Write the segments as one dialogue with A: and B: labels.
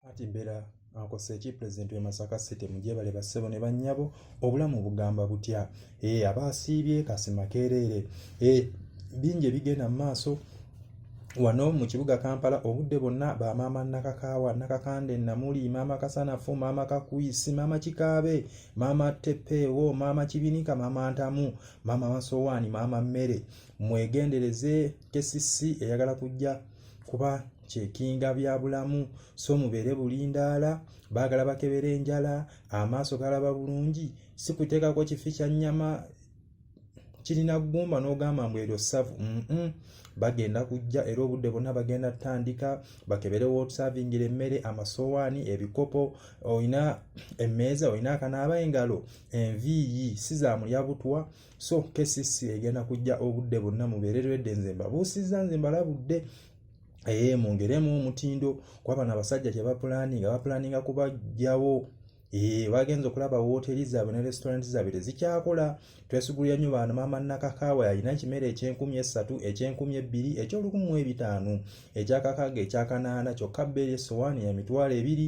A: Ati mbera akosa eki president we Masaka City mujebale basebo ne banyabo obulamu bugamba butya eh abasiibye kasima kerere eh binje bigena maso wano mu kibuga Kampala obudde bonna ba maama nakakaawa nakakande namuli maama kasanafu maama kakuisi maama kikaabe maama tepewo maama kibinika maama ntamu maama masowaani maama mmere mwegendereze kesisi eyagala kujja eh, kuba kyekinga bya bulamu so mubeere bulindaala baagala bakebera enjala amaaso galaba bulungi si kuteekako kifi kya nnyama kirina ggumba n'ogamba mbu eryo ssavu bagenda kujja era obudde bonna bagenda tutandika bakebere wotusavingira emmere amasowaani ebikopo olina emmeeza olina akanaaba engalo enviiyi si za mulya butwa so KCC egenda kujja obudde bonna mubeere lwedde nze mbabuusizza nze mbalabudde ee eh, mwongeremu omutindo kuba bano abasajja kyebapulaninga bapulaninga kubajjawo Eh, bagenze okulaba wooteri zaabwe ne restauranti zaabwe tezikyakola twesigulira nnyo baana maama nakakaawa yalina ekimere ekyenkumi essatu ekyenkumi ebbiri ekyolukumu mu ebitaano ekyakakaaga ekyakanaana kyokka bbeeri essowaani ya mitwalo ebiri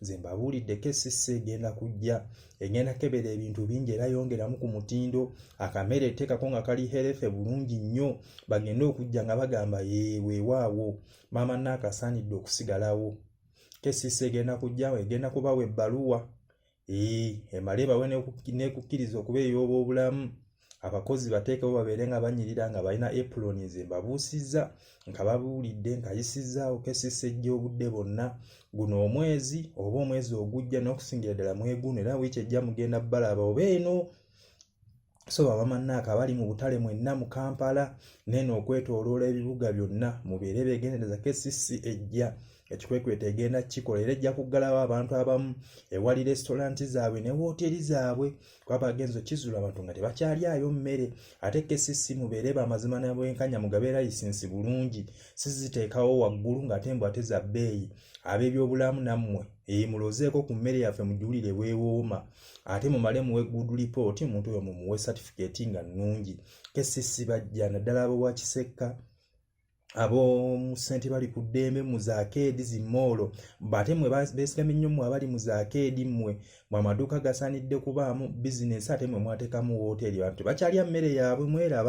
A: nze mbabuulidde kcc egenda kujja egenda kebera ebintu bingi era yongeramu ku mutindo akamere eteekako nga kali herefe bulungi nnyo bagende okujja nga bagamba yeewewaawo maama naakasaanidde okusigalawo kcc egenda kujjawo egenda kubawa ebbaluwa ee emale bawe nekukkiriza okuba ey'oba obulamu abakozi bateekewo babeere nga banyirira nga balina epuloni ze mbabuusizza nga babuulidde nkayisizzaawo kesisa ejja obudde bonna guno omwezi oba omwezi ogujja n'okusingira ddala mweguno era wiiki ejja mugenda balaba oba eno so babamannaako abali mu butale mwenna mu kampala neeno okwetooloola ebibuga byonna mubeere begendereza kesisi ejja ekikwekweto egenda kikola era ejja kuggalawo abantu abamu ewali resitolanti zaabwe ne wooteri zaabwe kuba bagenzi okizula abantu nga tebakyalyayo mmere ate kcc mubeere bamazima nabwenkanya mugabe layisinsi bulungi siziteekawo waggulu ng'ate mbu ate za bbeeyi ab'ebyobulamu nammwe eyi mulozeeko ku mmere yaffe mugiwulire weewooma ate mumale muwe good report omuntu oyo mumuwe satifikeeti nga nnungi kcc bajja naddala abowa kisekka ab'omusente bali ku ddembe mu zaakeedi zi moolo ate mwe beesigamye nnyo mwe abali mu zaakeedi mmwe mwe amaduuka gasaanidde kubaamu bizinensi ate mwe mwateekamu wooteeri abantu tebakyalya mmere yaabwe mweraba